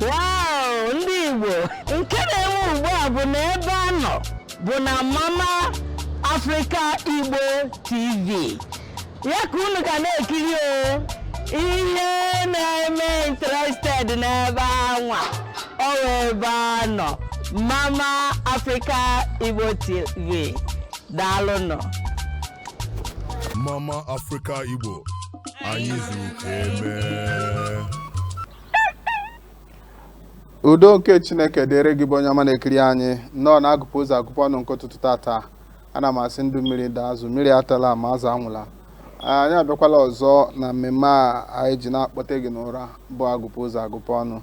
Wow, ndị Igbo nke na-enwe ugbu a bụ na ebe a nọ bụ na Mama Africa Igbo TV ya ka unu ga na-ekiri o ihe na-eme interested n'ebe anwa ọ wụ ebe a nọ Mama Africa Igbo TV daalụnụ Mama Africa Igbo anyị zuru ka emee udo nke chineke dịrị gị bụ onye ọma na-ekiri anyị nnọọ na agụpụ ụzọ agụpụ ọnụ nke ụtụtụ tata ana m asị ndụ mmiri ndụ azụ mmiri atala ma azụ anwụla anyị abịakwala ọzọ na mmemme a anyị ji na-akpọte gị n'ụra bụ agụpụ ụzọ agụpụ ọnụ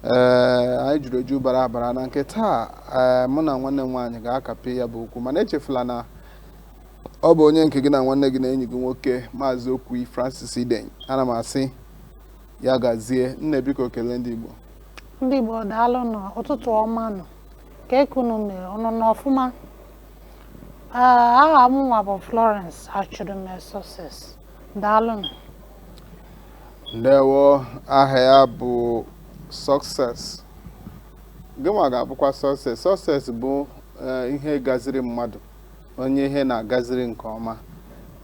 ee anyị juru eju bara abara na nke taa ee mụ na nwanne m nwaanyị ga-akapị ya bụ okwu mana echefula na ọ bụ onye nke gị na nwanne gị na enyi gị nwoke maazị okwu francis iden ana m asị ya gazie nne biko kelee ndị igbo ndị igbo daalụ nụ ụtụtụ ọma nụ kee ka unu mere unu nọ ọfụma aha mụnwa bụ florence achụrụme success daalụ nụ ndewo aha ya bụ success gịnwa ga-abụkwa success success bụ eh, ihe gaziri mmadụ onye ihe na-agaziri nke ọma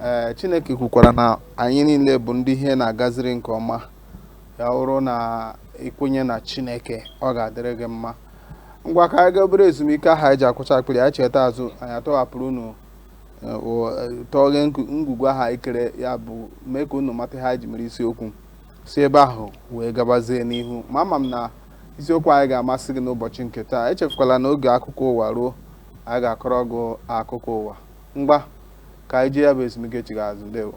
ee Chineke kwukwara na anyị niile bụ ndị ihe na-agaziri nke ọma ya bụrụ na i kwenye na Chineke ọ ga-adịrị gị mma ngwa ka anyị gaa obere ezumike ahụ anyị ji akwacha akpịrị anyị chighata azụ anyị atọghapụrụ unu tọghe ngwugwu ahụ anyị kere ya bụ mee ka unu mata ihe anyị ji mere isiokwu si ebe ahụ wee gabazie n'ihu ma ama m na isiokwu anyị ga-amasị gị n'ụbọchị nke taa echefukwala na oge akụkọ ụwa ruo anyị ga-akọrọ gị akụkọ ụwa ngwa ka anyị jee ya bụ ezumike chigha azụ ndewo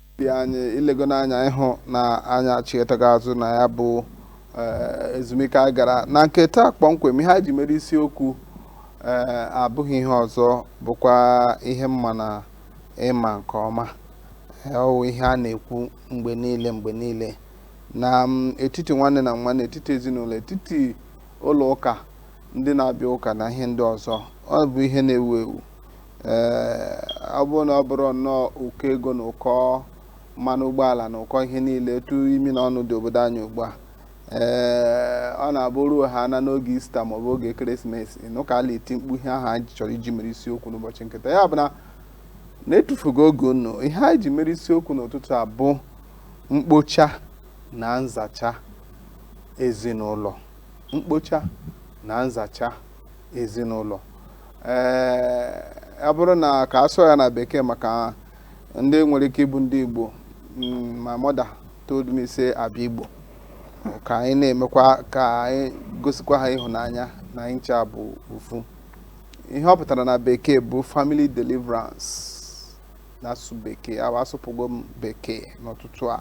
anyị i lego n'anya ị hụ na anyị achighatago azụ na ya bụ eh, ezumike anyị gara na nke taa kpọmkwem ihe anyị ji mere isiokwu eh, abụghị ihe ọzọ bụkwa ihe m ma na ị ma nke ọma Eh, ọ wụ ihe a na-ekwu mgbe niile mgbe niile na mm, etiti nwanne na nwanne etiti ezinụlọ etiti ụlọ ụka ndị na-abịa ụka na ihe ndị ọzọ ọ bụ ihe na-ewu ewu ee ọ bụrụ na ọ bụrụ nnọọ ụkọ ego na ụkọ mmanụ ụgbọala na ụkọ ihe niile etu imi na ọnụ dị obodo anyị ugbu a ee ọ na-abụ ruo ha na n'oge ista maọbụ oge ekeresimesi n'ụka a na-eti mkpu ihe ahụ anyị chọrọ iji mere isiokwu n'ụbọchị nketa ya bụ na na-etufughị oge unu ihe anyị ji mere isiokwu n'ụtụtụ a bụ mkpocha na nzacha ezinụlọ mkpocha na nzacha ezinụlọ ee ọ bụrụ na ka a sụọ ya na bekee maka ndị nwere ike ịbụ ndị Igbo mm, my mother told me say I be Igbo ka anyị na-emekwa ka anyị gosikwa ha ịhụnanya na anyị ncha bụ ofu ihe ọ pụtara na bekee bụ family deliverance n'asụsụ bekee ahụ asụpụgo m bekee n'ụtụtụ a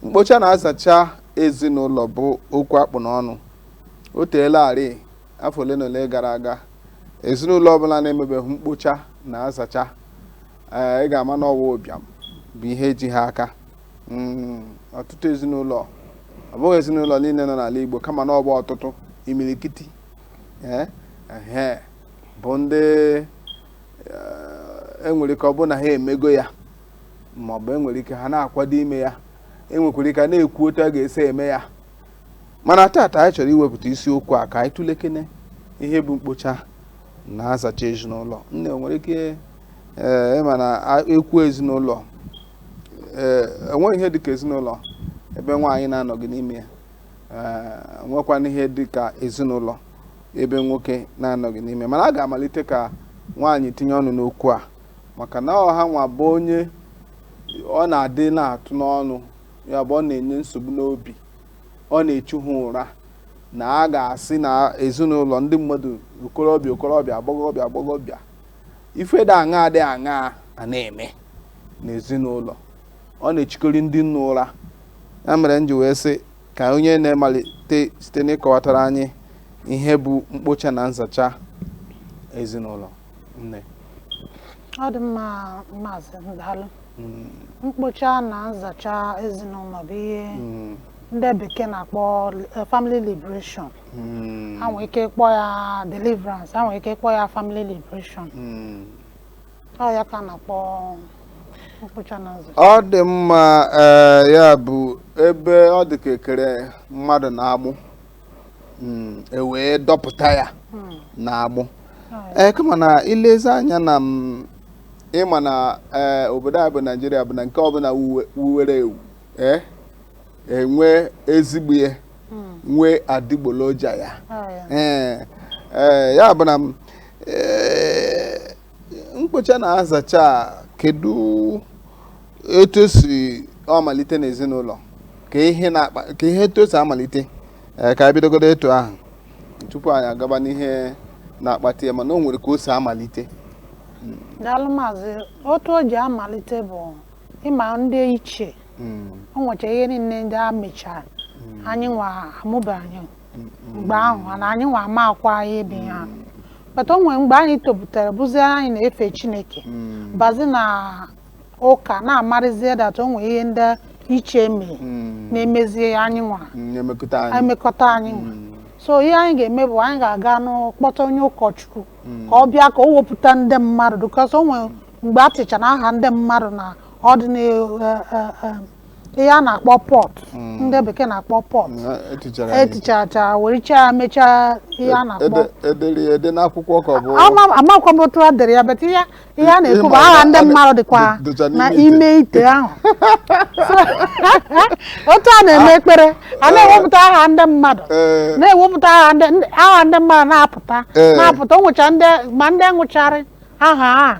mkpocha na nzacha ezinụlọ bụ okwu a kpụ n'ọnụ o teelarị Afọ ole na ole gara aga, ezinụlọ ọbụla na-emebeghị mkpocha na nzacha ee ị ga-ama na ọ wụ ụbịam bụ ihe ji ha aka Mm, ọtụtụ ezinụlọ ọ bụghị ezinụlọ niile nọ n'ala Igbo kama na ọ bụ ọtụtụ imilikiti ee ehe, bụ ndị eh, enwere ike ọ bụrụ na ha emego ya ma ọ bụ enwere ike ha na-akwado ime ya enwekwara ike a na-ekwu otu a ga-esi eme ya mana tata anyị chọrọ iwepụta isiokwu a ka anyị tụlekene ihe bụ mkpocha na nzacha ezinụlọ nne nwere ike ee eh, ị ma na e kwuo ezinụlọ ee eh, enweghị ihe dịka ezinụlọ ebe nwaanyị na-anọghị n'ime ya eh, nwekwana ihe dịka ezinụlọ ebe nwoke na-anọghị n'ime mana a ga-amalite ka nwaanyị tinye ọnụ n'okwu a maka na ọ ha nwa bụ onye ọ na-adị na-atụ n'ọnụ ya bụ ọ na-enye nsogbu n'obi ọ na-echu ha ụra na a ga-asị na ezinụlọ ndị mmadụ okorobịa okorobịa agbọghọbịa agbọghọbịa ife dị aṅa dị aṅa a na-eme n'ezinụlọ ọ na-echukarị ndị nne ụra ya mere m ji wee sị ka onye nne malite site n'ịkọwatara anyị ihe bụ mkpocha na nzacha ezinụlọ nne ọ dị mma maazị daalụ mm. mkpocha na nzacha ezinụlọ bụ ihe mm. ndị bekee na-akpọ eh, family liberation mm. a nwee ike kpọọ ya deliverance a nwee ike kpọọ ya family liberation ọ ya ka a na-akpọ mkpocha na nzacha ọ dị mma eh, ya bụ ebe ọ dị ka e kere mmadụ n'agbụ mm, e wee dọpụta ya hmm. n'agbụ ee eh, kama na i lezie anya na mm, ị ma na eh, obodo a bụ naijiria bụ na nke ọbụla wuwere ewu eh, e nwee ezigbo ihe hmm. nwee adịgboloja ya ee ya bụ na mm, mkpocha na nzacha kedu etu o si amalite n'ezinụlọ ka ihe na-akpa ka ihe etu o si amalite ee ka anyị bidogodo etu ahụ tupu anyị agaba n'ihe na-akpata ya mana o nwere ka o si amalite daalụ maazị otu o ji amalite bụ ị ma ndị ichie Mm, o nwecha ihe niile ndị a mechara anyị nwa amụba anyị mgbe ahụ na anyị nwa amakwaghị ihe bụ ya but o nwere mgbe anyị topụtara bụzie anyị na-efe chineke Mm. bazi na ụka na-amarịzie that o nwere ihe ndị ichie mere Mm. na-emezie anyị nwa Mm, na-emekọta anyị emekọta anyị nwa Mm. so ihe anyị ga-eme bụ anyị ga-aganụ kpọta onye ụkọchukwu Mm. ka ọ bịa ka o wepụta ndị mmadụ because o nwere mgbe e tichara aha ndị mmadụ na ọ dị na ihe a na-akpọ pot ndị bekee na-akpọ pot Na etichara anyị. etichacha wericha ya mechaa ihe a na-akpọ Ede- e dere ya ede n'akwụkwọ ka ọ bụ Ama- amakwa m otu e dere ya but ihe ihe a na-ekwu bụ Ịma aha na ndị ọ dị- mmadụ dịkwa dị- dịcha na n'ime ite. ime ite ahụ So, otu a na-eme ekpere a na-ewepụta aha ndị mmadụ Ee. na-ewepụta aha ndị ndị- aha ndị mmadụ na-apụta Ee. na-apụta o nwecha ndị ma ndị nwụcharị aha a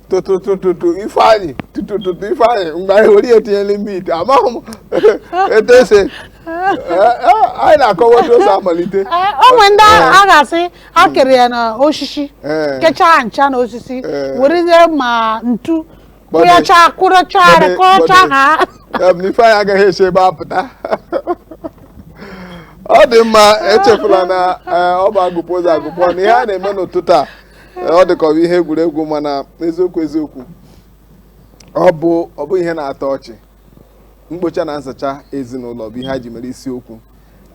tụtụtụtụtụ ifeanyị tụtụtụtụ ifeanyị mgbe anyị were ya tinye n'ime ite amaghị m etu esi e, e, anyị na-akọwa otu o si amalite e, o nwere ndị a ga-asị a kere ya n'osisi kechaa ncha na osisi were ma ntu kụyacha kụrụcha kụrụcha ha ifeanyị agaghị esi ebe a pụta ọ dị mma echefula na ọ bụ agụpụ ụzọ agụpụ na ihe a na-eme n'ụtụtụ a ọ dị ka ọ bụ ihe egwuregwu mana eziokwu eziokwu ọ ọ bụghị ihe na-atọ ọchị mkpocha na nzacha ezinụlọ bụ ihe a ji mere isiokwu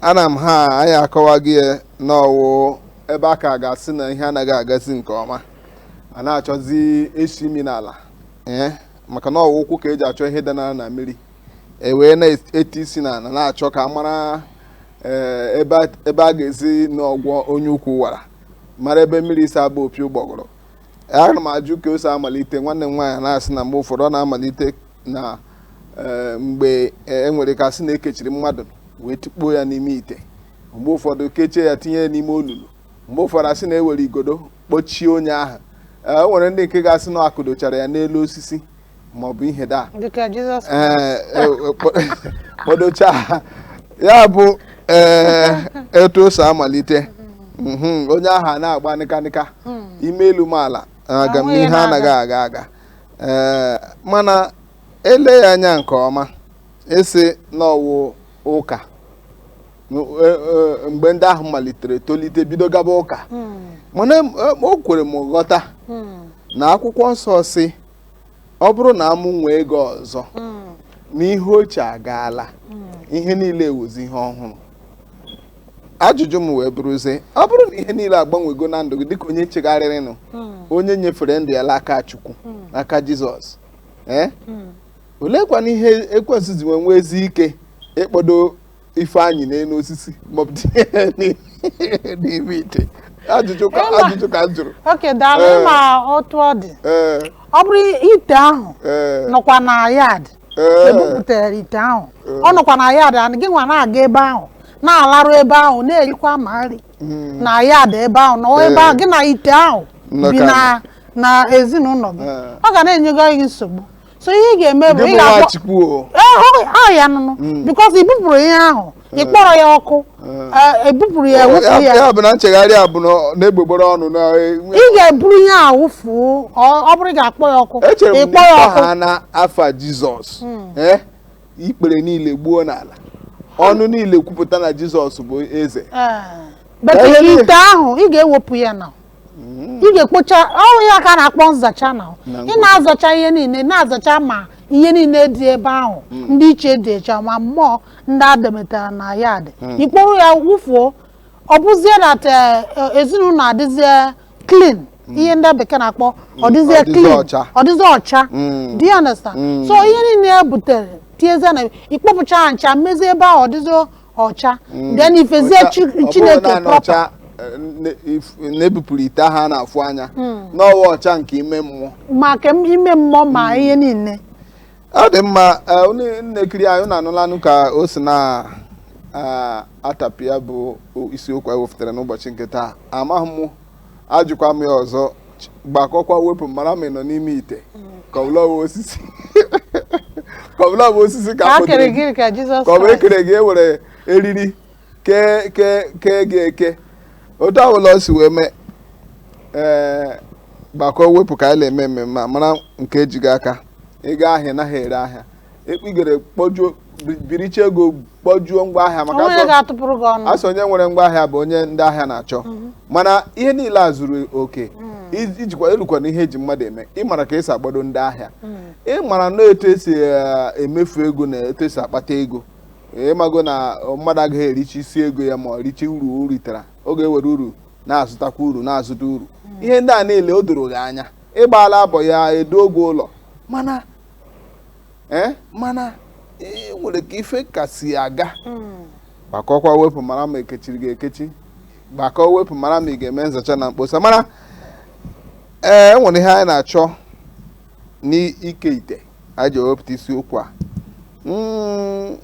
nwanne m nwaanyị akọwago ya na ọ wụ ebe a ka ga-asị na ihe anaghị agazi nke ọma a na-achọzi isi imi n'ala ee maka na ọ wụ ụkwụ ka eji achọ ihe danara na mmiri e wee na-eti isi n'ala na-achọ ka a mara ee, ebe a- ebe a ga-esinụ agwọ onye ukwu wara mara ebe mmiri si aba opi ụgbọgụrụ ana m ajụ ka o si amalite nwanne m nwaanyị na-asị na mgbe ụfọdụ ọ na-amalite na eh, mgbe eh, e nwere ka a sị na ekechiri mmadụ wee tikpuo ya n'ime ite mgbe ụfọdụ kechie ya tinye ya n'ime olulu mgbe ụfọdụ asị na ewere igodo kpọchie onye ahụ o nwere ndị nke ga-asị na akụdochara ya n'elu osisi maọbụ ihe da dịka jizọs ee e- e- kpo- kpodocha ha ya bụ ee etu o si amalite Mhm, onye ahụ a na-agba nịkanịka ime elu mee ala aga m Ahụ ya ihe anaghị na-aga. aga aga ee mana ele ya anya nke ọma ị sị na ọ wụ ụka N- e- e- mgbe ndị ahụ malitere tolite bido gaba ụka Mm, mana em- em- o kwere m ghọta mm, na akwụkwọ nsọ sị ọ bụrụ na a mụnwee gị ọzọ na ihe ochie agaala ihe niile awụzi ihe ọhụrụ ajụjụ m wee bụrụzie ọ bụrụ na ihe niile agbanwego na ndụ gị dịka onye chegharịrịnụ onye nyefere ndụ ya n'aka Chukwu n'aka Jizọs ee oleekwanụ ihe ekwensu ji nwe nweezi ike ịkpọdo ife anyị n'elu osisi maọbụ tinye ya n'i- n'ime ite ajụjụ ka Ịma- ajụjụ ka m jụrụ okay daalụ Ee. ma otu ọ dị ee ọ bụrụ ite ahụ ee nọkwa na yard Ee. ebupụtara ite ahụ ọ nọkwa na yard and gị nwa na-aga ebe ahụ na-alarụ ebe ahụ na-erikwa ma nri Mm. na yard ebe ahụ nọọ ebe Ee. ahụ gị na ite ahụ Nnọkọ bi na na ezinụlọ gị Ee. ọ ga na-enyego gị nsogbu so ihe ị ga-eme bụ ị ga-akpọ chukwu o Eh, ọ ya nụnụ Mm. because i bupụrụ ihe ahụ ị kpọrọ ya ọkụ Eh, ebupụrụ ya wepụ ya ya bụ na nchegharị a bụ na ọ n'egbugbere ọnụ na enwe- ị ga-eburu ihe a wụfuo ọ ọ bụrụ ị ga-akpọ ya ọkụ echere m ịkpọ na ya ịkpọ ọkụ ha na afa jizọs eh, ikpere niile gbuo n'ala ọnụ niile kwupụta na jizọs bụ eze Eh, but Ihe niile- ite ahụ ị ga-ewepụ ya na mm. ị ga-ekpocha ọ bụ ya ka a na-akpọ nzacha na ị na-azacha ihe niile na-azacha ma ihe niile dị ebe ahụ mm. ndị iche dị echa ma mmụọ ndị ademetara na ya dị mm. i kporo ya wụfuo ọ bụzie that eh, eh, ezinụlọ adịzie clean ihe ndị bekee na-akpọ ọ dịzie clean ọ dịzie ọcha do you understand so ihe niile e butere tiezie na ikpọpụcha ncha mezie ebe ahụ ọ dịzie ọcha Mm, then i fezie ọcha- chi- ọ bụrụ chineke naanị proper ọcha, eh, ne- if- na-ebupụrụ ite ahụ a na-afụ anya na ọ wụ ọcha nke ime mmụọ ma ka m- ime mmụọ ma ihe niile ọ dị mma eh, unu na-ekiri anyị unu anụlanụ ka o si na ah, atapịa bụ isiokwu anyị wepụtara n'ụbọchị nke taa amaghị m ajụkwa m ya ọzọ gbakọkwa wepụ mara ma ị nọ n'ime ite ka ọ bụla ọ bụ osisi ka ọ bụla ọ bụ osisi ka ka a a kere kpọtere gị ka Jizọs ka ọ bụ Kraịst. ekere gị ewere eriri kee kee kee gị eke otu ọbụla o si wee mee ee gbakọ wepụ ka anyị na-eme mmemme a mara nke ji gị aka ị gaa ahịa ị naghị ere ahịa ekpigere kpọjuo bi- biricha ego kpọjuo ngwa ahịa maka o nwere asọ- ga-atụpụrụ gị ọnụ a sị onye nwere ngwa ahịa bụ onye ndị ahịa na-achọ mana ihe niile a zuru oke ij- ijikwa elukwa na ihe eji mmadụ eme ịmara ka esi akpado ndị ahịa ịmara na etu esi eh, emefu ego na etu esi akpata ego ịmago na mmadụ agaghị erichi isi ego ya ma ọ richi uru o ritara ọ ga-ewere uru na-azụtakwa uru na-azụta uru ihe ndị a niile o doro gị anya ịgbaala abọ ya edo oge ụlọ mana ee eh, mana e nwere ka ife kasị aga hmm. gbakọkwa wepụ mara ma ekechiri gị ekechi gbakọ wepụ mara ma ị ga-eme nzacha na mkposa mana ee eh, e nwere ihe anyị na-achọ n'ike ite anyị ji ewepụta isiokwu a hmm,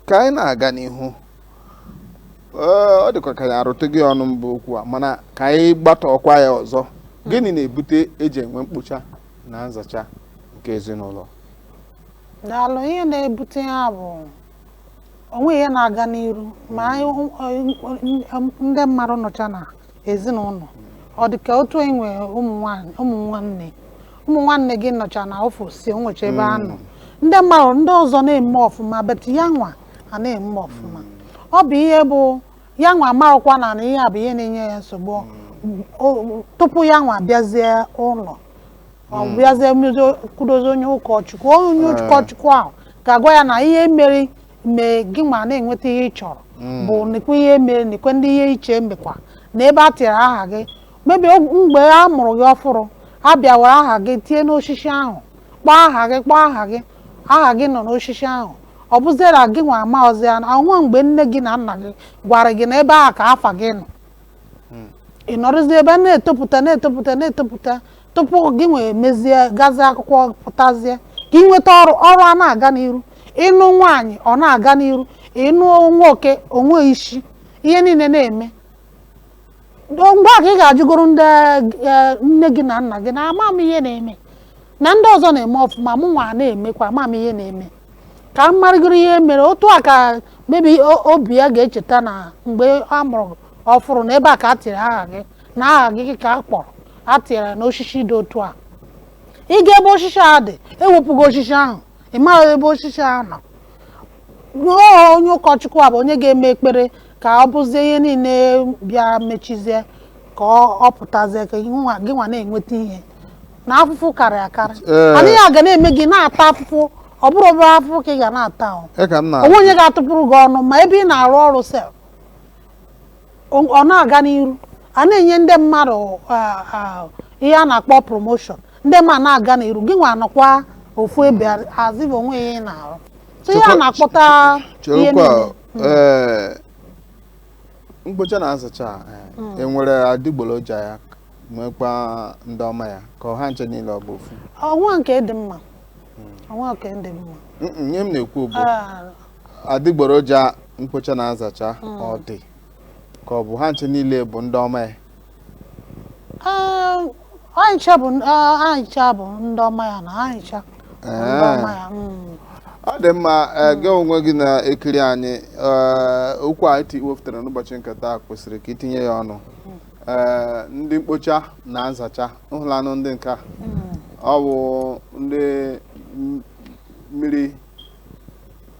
ka anyị na-aga n'ihu ọ dịkwa ka anyị arụtụgo ọnụ mbụ okwu a mana ka anyị gbatụkwa ya ọzọ gịnị na-ebute eji enwe mkpocha na nzacha nke ezinụlọ daalụ ihe na-ebute ya bụ o nwee ihe na-aga n'iru ma ndị mmadụ nọcha na ezinụlọ ọ dị ka otu ị nwee ụmụ nwanne ụmụ nwanne gị nọcha na ofesi enwecha ebe ha nọ hmm. ndị mmadụ ndị ọzọ na-eme ọfụma but ya nwa a na-eme ọfụma ọ bụ ihe bụ ya nwa amarọkwa na na ihe a bụ ihe na-enye ya nsogbu O- tupu ya nwa bịazie ụlọ ọ bịazie mezo- kwudozi onye ụkọchukwu onye ụkọchukwu ahụ ga-agwa ya na ihe mere mee gị nwa na-enweta ihe ị chọrọ bụ nekwe ihe mere nekwe ndị ihe iche mekwa na ebe a tinyere aha gị maybe mgbe a mụrụ gị ọfụrụ a bịa wara aha gị tie n'osisi ahụ kpọọ aha gị kpọọ aha gị aha gị nọ n'osisi ahụ ọ bụziera gị nwa amaghọzi ya na o nwe mgbe nne gị na nna gị gwara gị na ebe ahụ ka afa gị nọ ị nọrọzi ebe a na-etopụta na-etopụta na-etopụta tupu gị nwa emezie gazie akwụkwọ pụtazie ka ị nweta ọrụ ọrụ a na-aga n'iru ịnụ nwaanyị ọ na-aga n'iru ịnụ nwoke o nwe isi ihe niile na-eme ngwa ka ị gaa jụgoro ndị eh, nne gị na nna gị na ama m ihe na-eme na ndị ọzọ na-eme ọfụma mụ nwa na-emekwa ama m ihe na-eme ka m marịgoro ihe mere otu a ka maybe o- obi ya ga-echeta na mgbe a mụrụ ọfụrụ na ebe a ka a tiri aha gị na aha gị ka a kpọrọ a tinyere ya n'osisi dị otu a ị gaa ebe osisi a dị ewepụgo osisi ahụ ị maghị ebe osisi ahụ nọ rụọ onye ụkọchukwu a bụ onye ga-eme ekpere ka ọ bụzie ihe niile bịa mechizie ka ọ ọ pụtazie ka gị nwa gị nwa na-enweta ihe na afụfụ karị akarị Ee. mana ihe a ga na-eme gị na-ata afụfụ ọ bụrụ obere afụfụ ka ị ga na-ata o ya ka m na o nwee onye ga-atụpụrụ gị ọnụ ma ebe ị na-arụ ọrụ sef ọ ọ na-aga n'iru a na-enye ndị mmadụ ah, ah, ihe a na-akpọ promotion ndị mmadụ na-aga n'iru gị nwa nọkwa ofu ebe azịbụ o nwee ihe ị na-arụ so ihe a Chekwa- na-akpọta ihe cherekwa niile ee mkpocha na nzacha eh, e nwere adịgboroja ya nwekwa ndị ọma ya ka ọ bụ ha ncha niile ọ bụ ofu o nwee nke dị mma o nwee nke dị mma Mm, mm, ihe m na-ekwu bụ Ah, adịgboroja mkpocha na nzacha ọ dị ka ọ bụ ha ncha niile bụ ndị ọma ya ah, anyị cha bụ ah, anyị cha bụ ndị ọma ya na anyị cha bụ ndị ọma ya mm. ọ dị mma ee, gị onwe gị na-ekiri anyị ee, okwu a iti wepụtara n'ụbọchị nke taa kwesịrị ka i tinye ya ọnụ ee ndị mkpocha na nzacha ị hụla nụ ndị nke a ọ bụ ndị m- mmiri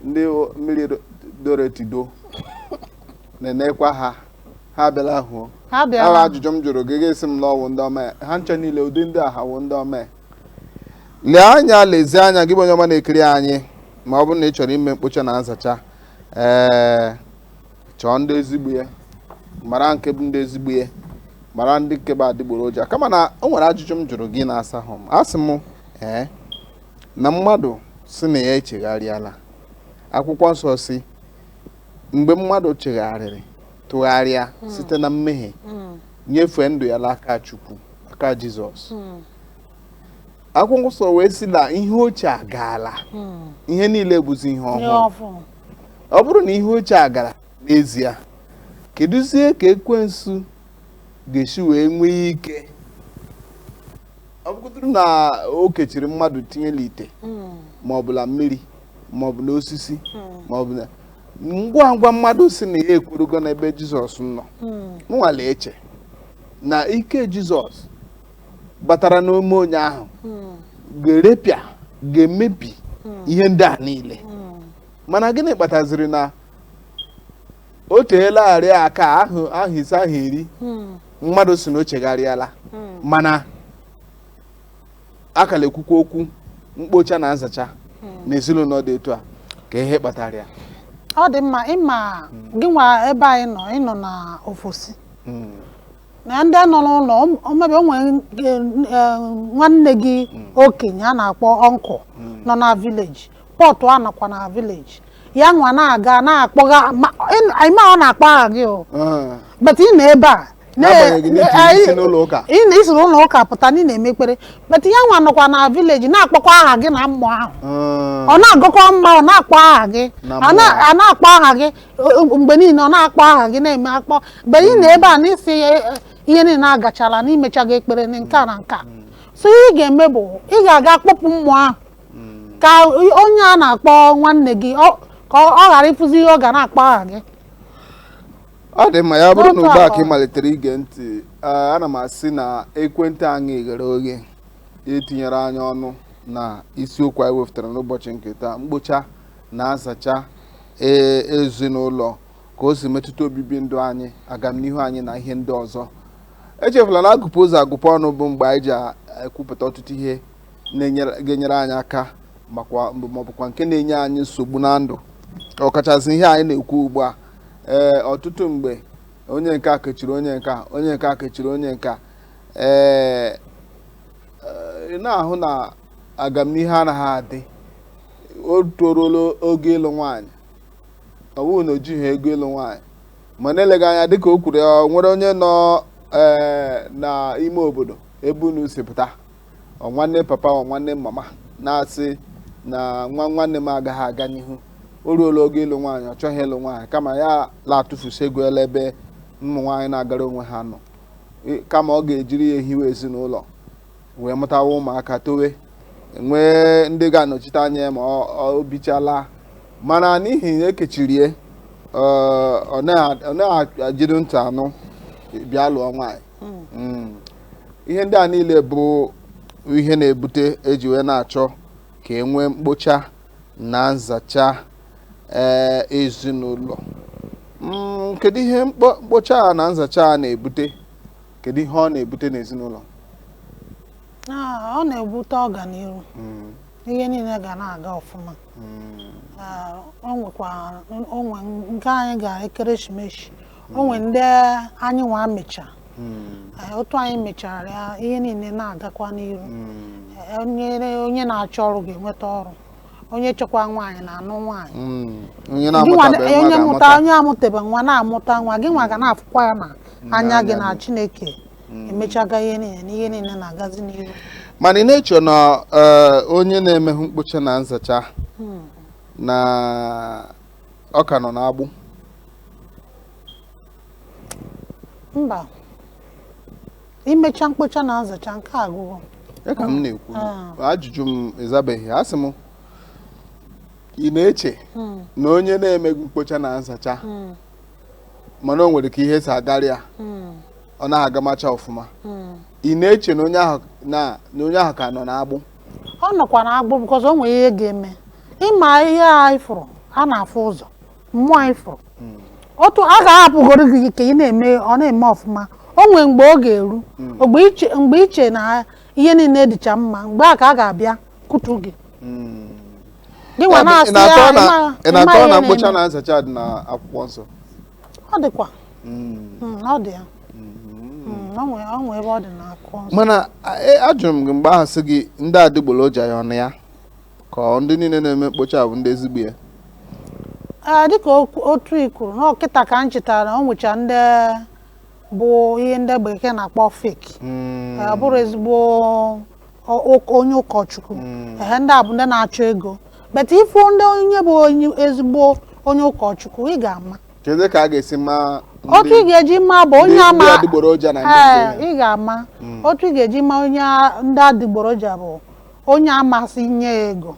ndị o- mmiri do- doro etido na-enekwa ha ha bịara hụ ha ahụ bịara ajụjụ m jụrụ gị ị ga-asị m na ọ bụ ndị ọma ya. ha ncha niile ụdị ndị a ha wụ ndị ọma ya. lee anya lezie anya gị bụ onye ọma na-ekiri anyị ma ọ bụrụ na ị chọrọ ime mkpocha na nzacha ee chọọ ndị ezigbo ya mara nke bụ ndị ezigbo ya mara ndị nke bụ adịgboroja kama na o nwere ajụjụ m jụrụ gị ị na-asahụ m asị m ee na mmadụ sị na ya echegharịala akwụkwọ nsọ sị mgbe mmadụ chegharịrị tụgharịa hmm. site na mmehie hmm. nyefee ndụ ya n'aka Chukwu aka Jizọs hmm. akwụkwọ nsọ wee sị na ihe ochie agaala hmm. ihe niile bụzi ihe ọhụrụ ọ bụrụ na ihe ochie agara n'ezie kedụzie ka ekwensu ga-esi wee nwee ike ọ bụgodoro na o kechiri mmadụ tinye n'ite hmm. ma ọ bụ na mmiri ma ọ bụ n'osisi hmm. ma ọ bụ na ngwa ngwa mmadụ sị na ya ekwerugo n'ebe jizọs nọ mụ nwa na-eche na ike jizọs batara n'ime onye ahụ ga-erepịa ga-emebi ihe ndị a niile mana gịnị kpataziri na o teelarị aka ahọ ahọ ise ahọ iri mmadụ sị na o chegharịala mana a ka na-ekwukwa okwu mkpocha na nzacha na ezinụlọ dị etu a kee ihe kpatara ya ọ dị mma ị ma gị nwa ebe ị nọ ị nọ na ofesi na ndị nọ n'ụlọ ọ- ọ maybe o nwere nke, eh, nwanne gị okenye a na-akpọ uncle nọ na village but ọ nọkwa na village ya nwa na-aga na-akpọga ma- ị- anyị ma ọ na-akpọ aha gị o Ah, but ị nọ ebe a na- N'agbanyeghị na ị jiri anyị- isi n'ụlọ ụka. ị na- isi n'ụlọ ụka pụta na ị na-eme ekpere but ya nwa nọkwa na village na-akpọkwa aha gị na mmụọ ahụ ah. ọ na-agọkwa mmụọ ọ na-akpọ aha gị Na a na- mmụọ. a na-akpọ aha gị mgbe niile ọ na-akpọ aha gị na-eme akpọ but ị nọ ebe a na isi ya eh, ihe niile agachala na i mechaga ekpere na nke a na nke a so ihe ị ga-eme bụ ị ga-aga kpọpụ mmụọ ahụ ka onye a na-akpọ nwanne gị ọ- ka ọ ọ ghara ịfụzi ihe ọ ga na-akpọ aha gị ọ dị mma ya bụrụ na ugbu a ka ị malitere ige ntị ee, ana m asị na ekwentị anyị ghere oghe itinyere anyị ọnụ na isiokwu anyị wepụtara n'ụbọchị nke taa mkpocha na nzacha ee ezinụlọ ka o si metụta obibi ndụ anyị agamnihu anyị na ihe ndị ọzọ echefula na agụpụ ụzọ agụpụ ọnụ bụ mgbe anyị ji a- ekwupụta ọtụtụ ihe na-enyere- ga-enyere anyị aka makwa maọbụkwa nke na-enye anyị nsogbu na ndụ ọkachasị ihe anyị na-ekwu ugbu a ee ọtụtụ mgbe onye nke a kechiri onye nke a onye nke a kechiri onye nke a ee ị na-ahụ na agamnihu anaghị adị o toruola oge ịlụ nwaanyị ọ bụghị na o jighị ego ịlụ nwaanyị ma na-eleghị anya dịka o kwuru ya ọ nwere onye nọ ee n'ime obodo ebe unu si pụta ọ nwanne papa ọ nwanne mama na-asị na nwa nwanne m agaghị aga n'ihu o ruola oge ịlụ nwaanyị ọ chọghị ịlụ nwaanyị kama ya la-atụfusi ego ya la ebe ụmụ nwaanyị na-agara onwe ha nọ I- kama ọ ga-ejiri ya ehiwe ezinụlọ wee mụtawa ụmụaka towe nwee ndị ga-anọchite anya ya ma ọ- ọ bichala mana n'ihi na ekechirie ọ- ọ na- ọ na-ejighị ntị anụ bịa lụọ nwaanyị Mm. ihe ndị a niile bụ ihe na-ebute eji wee na-achọ ka e nwee mkpocha na nzacha ee ezinụlọ Mm, kedu ihe mkpo- mkpocha a na nzacha a na-ebute kedu ihe ọ na-ebute n'ezinụlọ ọ na-ebute ọganiru hmm. ihe niile ga na-aga ọfụma hmm. o nwe nke anyị ga ekeresimesi o nwe hmm. ndị anyị nwa mecha otu anyị mechara ya ihe niile na-agakwa n'iru onye na-achọ ọrụ ga-enweta ọrụ onye chọkwa nwaanyị na-anụ nwaanyị mm. onye mụta onye amụtebe nwa na-amụta nwa gị nwa ga na-afụkwa ya na anya gị na Chineke mm. emechaga ihe niile na ihe niile na-agazi n'iru mana ị na-eche na eh, onye na-emehụ mkpocha na nzacha hmm. na ọ ka nọ n'agbụ mba imecha mkpocha na nzacha nke agụgụ ya ka m na-ekwu ah. ajụjụ m ị zabeghị asị m ị na-eche hmm. na onye na-emeghị mkpocha na nzacha hmm. mana o nwere ka ihe si agarị ya hmm. ọ na-agamacha ọfụma ị na-eche na onye ahụ ka nọ n'agbụ ọ nọkwa n'agbụ because o nwere ihe ga-eme ị ma ihe a ị fụrụ a na-afụ ụzọ mmụọ ị fụrụ otu a ga-ahapụgoro gị ka ị na-eme ọ na-eme ọfụma o nwee mgbe ọ ga-eru mgbe i che mgbe i che na ihe niile dịcha mma mgbe a ka a ga-abịa kụtu gị gị nwa na-asị ya ị ma- ị ị ma na-atọ ihe na mkpocha na-eme. na nzacha dị na akwụkwọ nsọ ọ dịkwa Mm, ọ dị ya Mm, ọ nwee- ọ nwee ebe ọ dị na akwụkwọ nsọ mana a- e- ajụrụ m gị mgbe ahụ sị gị ndị adịgboroja ya ọ nọ ya ka ọ ndị niile na-eme mkpocha a bụ ndị ezigbo ya Ee, dịka okwu- otu i kwuru nnọọ kịta ka m chetara na o nwecha ndị bụ ihe ndị bekee na-akpọ fake Mm, Ee, ọ bụrọ ezigbo ọ- ọ- onye ụkọchukwu ehe ndị a bụ ndị na-achọ ego but ị fụ ndị onye bụ onye ezigbo onye ụkọchukwu ị ga-ama kedu ka a ga-esi ma otu ị ndị ga-eji ma bụ onye ndị- ama ndị adịgboroja na ndị Ee, nke ya? ị ga-ama otu ị ga-eji ma onye a- ndị adịgboroja bụ onye ama asị nye ya ego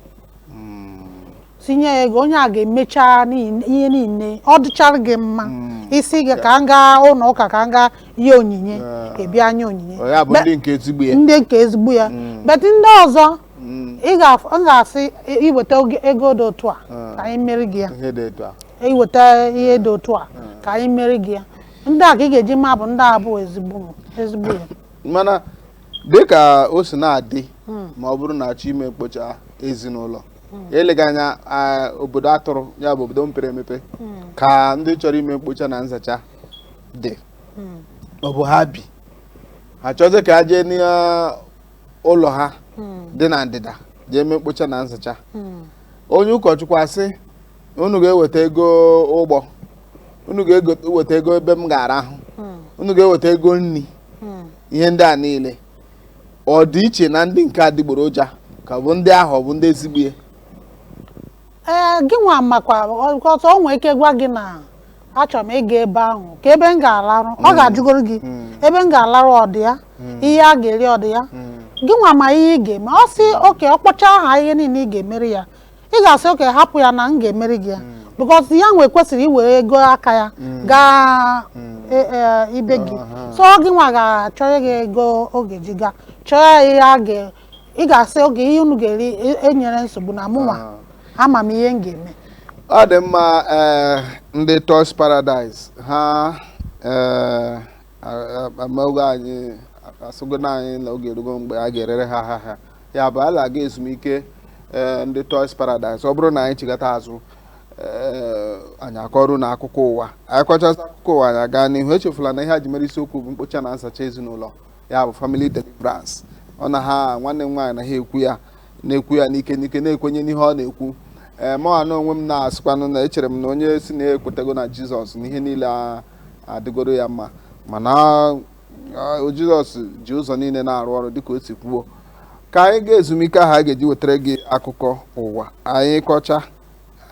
tinye ya ego onye a ga-emecha niile- ihe niile ọ dịchara gị mma ị sị gị ka m gaa ụlọ ụka ka m gaa nye onyinye Ah. ị bịa nye onyinye Ọ ya bụ Be- ndị nke ezigbo ya ndị nke ezigbo ya but ndị ọzọ Mm, ị ga-af- m ga-asị i- i weta oge- ego dị otu a Ah. ka anyị meri gị ya ihe dị etu a i weta ihe dị otu a ka anyị meri gị ya ndị a ka ị ga-eji ma bụ ndị a bụ ezigbo ezigbo ya mana dịka o si na-adị hmm. ma ọ bụrụ na a chọọ ime mkpocha ezinụlọ hmm. eleghị anya obodo atụrụ ya bụ obodo mepere emepe hmm. ka ndị chọrọ ime mkpocha na nzacha dị ọ bụ ha bi ha chọzi ka a jee n'ụlọ ha dị na ndịda jee mee mkpocha na nzacha onye ụkọchukwu asị unu ga-eweta ego ụgbọ unu ga-eweta ego ebe m ga-arahụ hmm. unu ga-eweta ego nri hmm. ihe ndị a niile ọ dị iche na ndị nke adịgboroja ka ọ bụ ndị ahụ bụ ndị ezigbo ya ee gị nwa makwa ọzọ o nwere ike gwa gị na achọrọ m ịga ebe ahụ ka ebe m ga-alarụ ọ hmm. ga-ajụgoro gị ebe m ga-alarụ ọ dị ya ihe a ga-eri ọ dị ya gị nwa ma ihe ị ga-eme ọ sị okay ọ kpọcha aha ihe niile ị ga-emere ya ị ga-asị okay hapụ ya na m ga-emere gị ya because ya nwa kwesịrị iwere ego aka ya gaa e- e, ibe gị so gị nwa ga-achọrọ ya ego ọ ga-eji gaa chọọ ya ihe a ga ị ga-asị okay ihe unu ga-eri e- enwerọ nsogbu na mụnwa ama m ihe m ga-eme ọ dị mma ee ndị Toys Paradise ha ee amaoge anyị asịgo anyị na oge erugo mgbe a ga-erere ha ahịa ya bụ a na-aga ezumike eh, ndị Toys Paradise ọ bụrụ na anyị chigata azụ eh, anyị akọrọ unu akụkọ ụwa anyị kọchasị akụkọ ụwa anyị aga n'ihu echefula na ihe a ji mere isiokwu bụ mkpocha na nsacha ezinụlọ ya bụ family deliverance ọ na ha nwanne m nwaanyị na ha ekwu ya na-ekwu ya n'ike n'ike na-ekwenye n'ihe ọ na-ekwu ee eh, mụnwa na onwe m na-asịkwanụ na echere m na onye sị na ekwetago na Jizọs na ihe niile adịgoro ya mma mana Jizọs ji ụzọ niile na-arụ ọrụ dịka o si kwuo ka anyị gaa ezumike ahụ a ga-eji wetara gị akụkọ ụwa anyị kọcha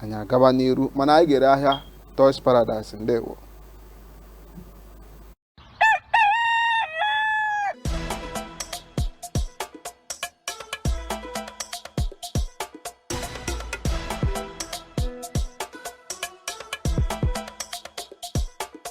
anyị agaba n'iru mana anyị ga-ere ahịa Toys Paradise ndewo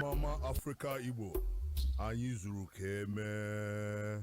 Mama Africa Igbo anyị zuru ka emee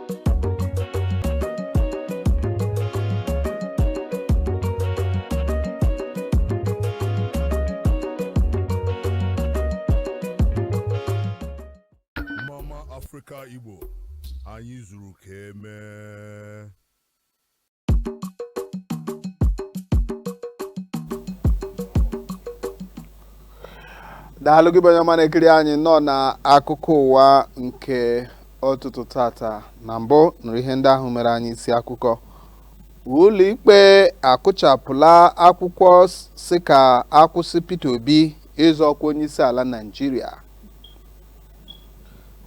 Mama Africa Igbo anyị zuru ka emee daalụ gị bụ onye ọma na-ekiri anyị nọ na akụkọ ụwa nke ụtụtụ tata na mbụ nụrụ ihe ndị ahụ mere anyị isi akụkọ ụlọikpe akụchapụla akwụkwọ sị ka a kwụsị Peter Obi ịzọ ọkwa onyeisiala Naịjirịa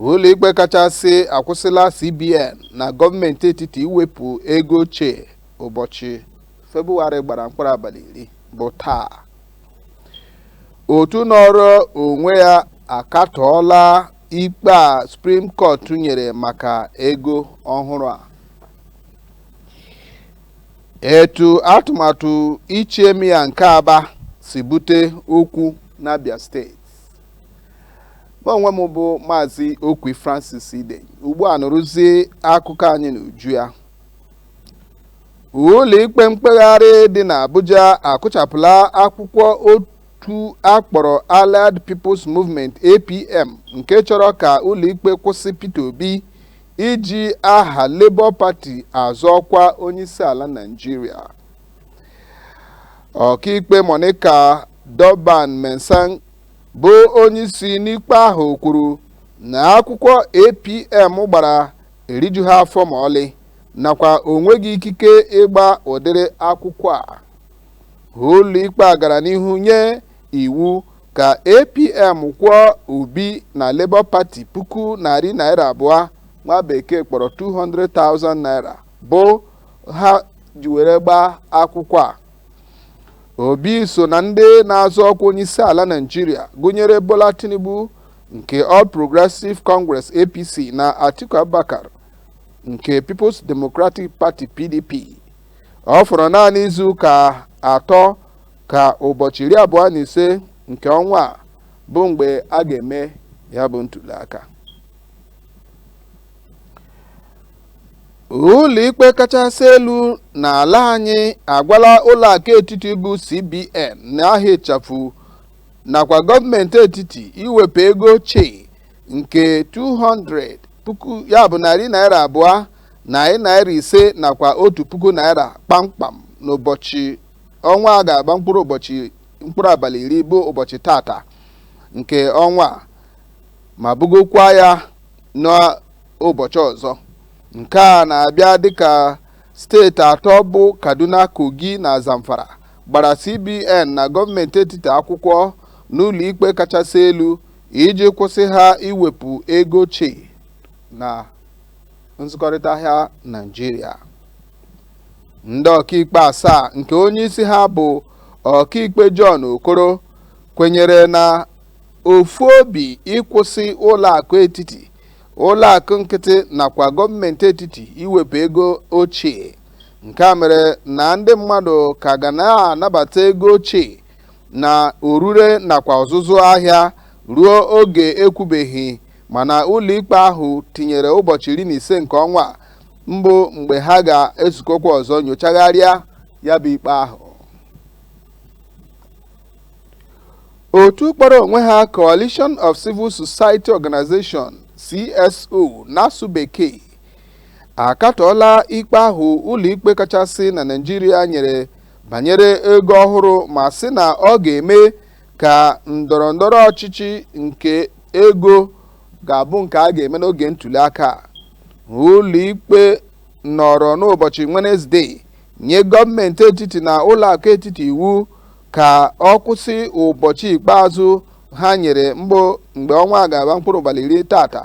ụlọikpe kachasị akwụsịla CBN na gọọmenti etiti iwepụ ego ochie ụbọchị Febụwarị gbara mkpụrụ abalị iri bụ taa otu nọrọ onwe ya akatọọla ikpe a Suprim Kọt nyere maka ego ọhụrụ a etu atụmatụ ichi Emir nke Aba si bute okwu n'Abia steeti mụ onwe m bụ maazị okwi francis ide ugbu a nụrụzie akụkọ anyị n'uju ya ụlọikpe mkpegharị dị n'abuja akụchapụla akwụkwọ otu a kpọrọ allied peoples movement apm nke chọrọ ka ụlọikpe kwụsị peter obi iji aha labour party azọ ọkwa onyeisiala naijiria ọkaikpe monica dongban mensem bụ onyeisi n'ikpe ahụ kwuru na akwụkwọ APM gbara erijughị afọ ma ọlị nakwa o nweghị ikike ịgba ụdịrị akwụkwọ a ụlọikpe a gara n'ihu nye iwu ka APM kwụọ Obi na Labour Party puku narị naira abụọ nwa bekee kpọrọ 200,000 naira bụ ha ji were gbaa akwụkwọ a Obi so na ndị na-azọ ọkwa onyeisiala Naịjirịa gụnyere Bola Tinubu nke All Progressive Congress APC na Atiku Abubakar nke Peoples Democratic Party PDP. Ọ fọrọ naanị izu ụka atọ ka ụbọchị iri abụọ na ise nke ọnwa a bụ mgbe a ga-eme ya bụ ntuliaka. ụlọikpe kachasị elu n'ala anyị agwala ụlọakụ etiti bụ cbn n'aha ịchafụ nakwa gọọmenti etiti iwepụ ego ochie nke 200 puku ya bụ narị naira abụọ narị naira ise nakwa otu puku naira kpamkpam n'ụbọchị ọnwa a ga-agba mkpụrụ ụbọchị mkpụrụ abalị iri bụ ụbọchị tata nke ọnwa a ma bugokwa ya na ụbọchị ọzọ nke a na-abịa dịka steeti atọ bụ kaduna kogi na zamfara gbara cbn na gọọmenti etiti akwụkwọ n'ụlọ ikpe kachasị elu iji kwụsị ha iwepụ ego ochie na nzụkọrịta ahịa naijiria ndị ọkaikpe asaa nke onye isi ha bụ ọkaikpe john okoro kwenyere na ofu obi ịkwụsị ụlọ akụ etiti ụlọ akụ nkịtị nakwa gọọmenti etiti iwepụ ego ochie nke a mere na ndị mmadụ ka ga na-anabata ego ochie na orure nakwa ọzụzụ ahịa ruo oge ekwubeghị mana ụlọikpe ahụ tinyere ụbọchị iri na ise nke ọnwa mbụ mgbe ha ga-ezukọkwa ọzọ nyochagharịa ya bụ ikpe ahụ otu kpọrọ onwe ha coalition of civil society organization cso n'asụ bekee akatọọla ikpe ahụ ụlọikpe kachasị na naijiria nyere banyere ego ọhụrụ ma sị na ọ ga-eme ka ndọrọ ndọrọ ọchịchị nke ego ga-abụ nke a ga-eme n'oge ntuli aka ụlọikpe nọrọ n'ụbọchị Wenezdee nye gọọmenti etiti na ụlọakụ etiti iwu ka ọ kwụsị ụbọchị ikpeazụ ha nyere mbụ mgbe ọnwa a ga-agba mkpụrụ abalị iri tata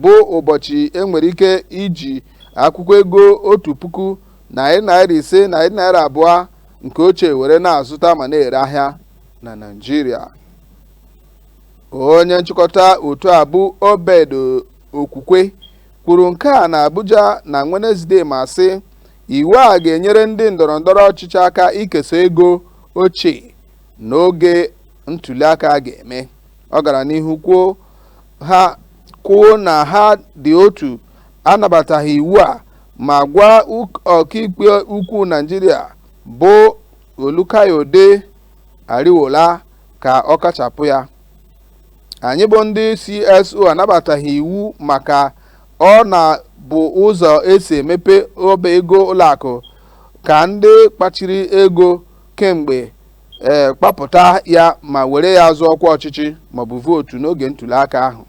bụ ụbọchị enwere ike iji akwụkwọ ego otu puku naira narị ise na narị abụọ nke ochie were na-azụta ma na-ere ahịa na Naịjirịa onye nchịkọta otu a bụ Obed Okwukwe kwuru nke a na Abuja na Wenezdee ma sị Iwu a ga-enyere ndị ndọrọ ndọrọ ọchịchị aka ikesa ego ochie n'oge ntuliaka a ga-eme. Ọ gara n'ihu kwuo na ha dị otu anabataghị iwu a ma gwa ọkaikpe ukwu Naijiria bụ Olukayode Ariwola ka ọ kachapụ ya. Anyị bụ ndị CSO anabataghị iwu maka Ọ na bụ ụzọ esi emepe ọba ego ụlọakụ ka ndị kpachiri ego kemgbe ee kpapụta ya ma were ya zụọ ọkwa ọchịchị maọbụ vootu n'oge ntuliaka ahụ.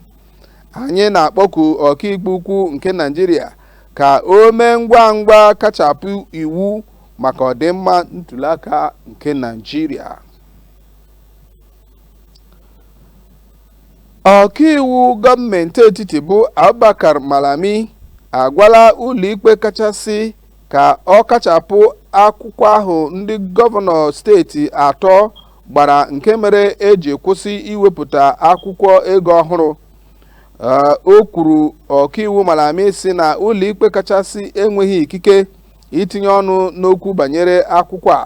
Anyị na-akpọku ọkaikpe ukwu nke Naịjirịa ka o mee ngwa ngwa kachapụ iwu maka ọdịmma ntuliaka nke Naịjirịa. Ọkaiwu gọọmenti etiti bụ Abubakar Malami agwala ụlọikpe kachasị ka ọ kachapụ akwụkwọ ahụ ndị gọvanọ steeti atọ gbara nke mere eji kwụsị iwepụta akwụkwọ ego ọhụrụ o kwuru ọkaiwu Malami sị na ụlọikpe kachasị enweghị ikike itinye ọnụ n'okwu banyere akwụkwọ a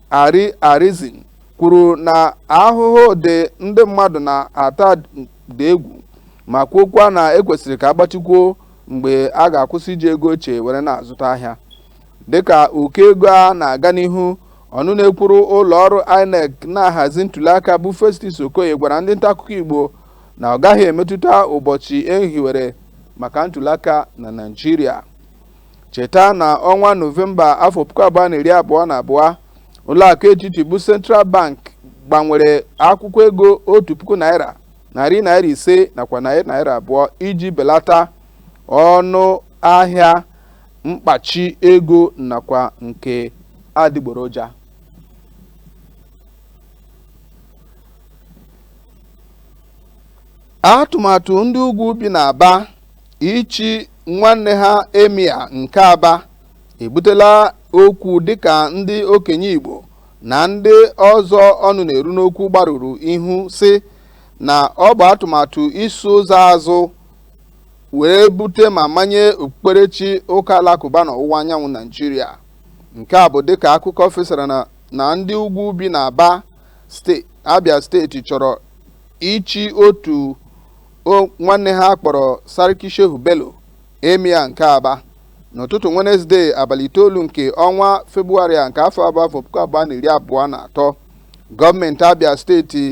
Ari Aisen kwuru na ahụhụ dị ndị mmadụ na-ata dị egwu ma kwuokwa na ekwesịrị ka agbatịkwuo mgbe a ga-akwụsị iji ego ochie were na-azụta ahịa dịka ụkọ ego a na-aga n'ihu ọnụ na-ekwuru ụlọ ọrụ INEC na-ahazi ntuliaka bụ Festus Okoye gwara ndị nta akụkọ Igbo na ọ gaghị emetụta ụbọchị ehiwere maka ntuliaka na Naịjirịa cheta na ọnwa nọvemba afọ puku abụọ na iri abụọ na abụọ ụlọakụ etiti bụ central bank gbanwere akwụkwọ ego otu puku naira narị naira ise nakwa narị naira abụọ iji belata ọnụ ahịa mkpachi ego nakwa nke adịgboroja atụmatụ ndị ugwu bi n'Aba Ichi nwanne ha Emir nke Aba ebutela okwu dịka ndị okenye Igbo na ndị ọzọ ọnụ na-eru n'okwu gbarụrụ ihu sị na ọ bụ atụmatụ iso ụzọ azụ wee bute ma manye okpukperechi ụka alakụba n'ọwụwa anyanwụ Naijiria. Nke a bụ dịka akụkọ fesara na ndị ugwu bi n'Aba Abia steeti chọrọ ichi otu o nwanne ha kpọrọ Sarki Shehu Bello Emir nke Aba n'ụtụtụ Wenezde abalị itoolu nke ọnwa Febụwarị a nke afọ abụọ afọ puku abụọ na iri abụọ na atọ gọọmenti Abia steeti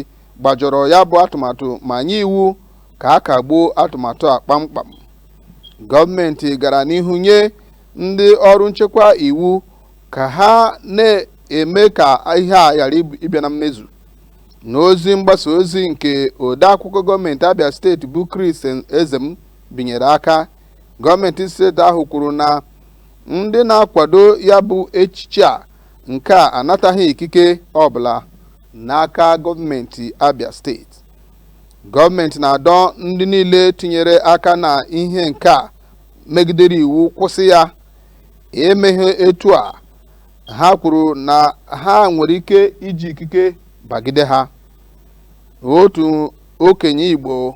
gbajọrọ ya bụ atụmatụ ma nye iwu ka a kagbuo atụmatụ a kpamkpam gọọmenti gara n'ihu nye ndị ọrụ nchekwa iwu ka ha na-eme ka ihe a ghara ịbịa na mmezu n'ozi mgbasa ozi nke odeakwụkwọ gọọmenti abia steeti bụ chris ezem binyere aka gọọmenti steeti ahụ kwuru na ndị na-akwado ya bụ echichi a nke a anataghị ikike ọbụla n'aka gọọmenti abia steeti gọọmenti na-adọ ndị niile tinyere aka na ihe nke a megidere iwu kwụsị ya emeghị etu a ha kwuru na ha nwere ike iji ikike bagide ha otu okenye igbo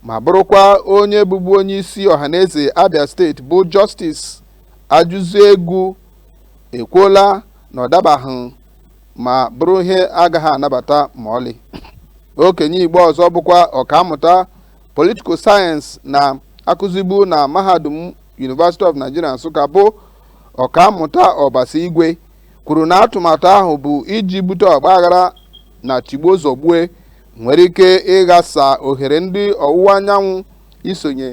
ma bụrụkwa onye bụbu onye isi ọhaneze abia steeti bụ justice ajụziegwu ekwuola na ọ dabaghị ma bụrụ ihe agaghị anabata ma ọlị okenye igbo ọzọ bụkwa ọkammụta political science na-akụzibu na mahadum university of nigeria nsụka bụ Ọkammụta Obasi Igwe kwuru na atụmatụ ahụ bụ iji bute ọgbaghara na tigbuo zọgbue nwere ike ịghasa ohere ndị ọwụwa anyanwụ isonye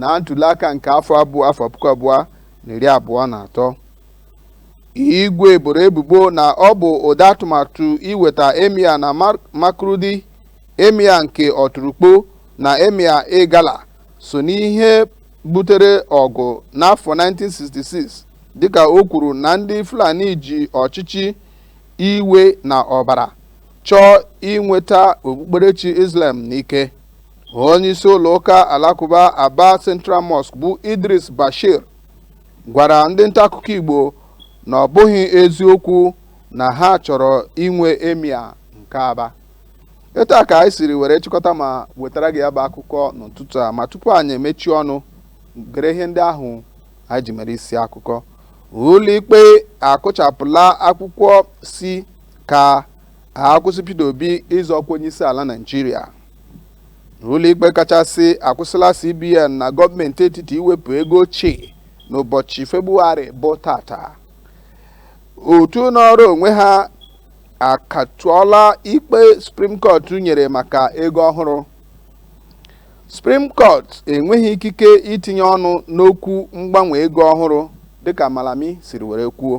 na ntuliaka nke afọ abụọ afọ puku abụọ na iri abụọ na atọ igwe boro ebubo na ọ bụ ụdị atụmatụ iweta emir na Makurdi emir nke Ọtụrụkpo na emir Igala so n'ihe butere ọgụ n'afọ 1966 dịka o kwuru na ndị Fulani ji ọchịchị iwe na ọbara chọọ inweta okpukperechi Islam n'ike onye isi ụlọ ụka alakụba Aba Central Mosque bụ Idris Bashir gwara ndị nta akụkọ Igbo na ọ bụghị eziokwu na ha chọrọ inwe emir nke Aba etu a ka anyị siri were chịkọta ma wetara gị ya bụ akụkọ n'ụtụtụ a ma tupu anyị emechie ọnụ gere ihe ndị ahụ anyị ji mere isi akụkọ ụlọikpe akụchapụla akwụkwọ sị ka a kwụsị Peter Obi ịzọ ọkwa onye isi ala Naịjirịa ụlọikpe kachasị akwụsịla CBN na gọọmenti etiti iwepụ ego ochie n'ụbọchị Febụwarị bụ tata otu nọọrọ onwe ha akatụọla ikpe Supreme Court nyere maka ego ọhụrụ Supreme Court enweghị ikike itinye ọnụ n'okwu mgbanwe ego ọhụrụ dịka Malami siri were kwuo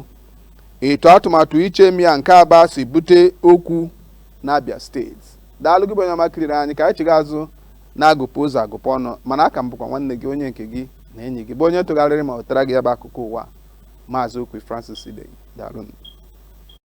etu atụmatụ ichi emir nke Aba si bute okwu n'Abia steeti daalụ gị bụ onye ọma kiriri anyị ka anyị chiga azụ na agụpụ ụzọ agụpụ ọnụ mana aka m bụkwa nwanne gị onye nke gị na enyi gị bụ onye tụgharịrị ma wetara gị ya bụ akụkọ ụwa maazị Okwi Francis Idei daalụ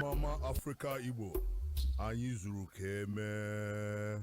Mama Africa Igbo anyị zuru ka emee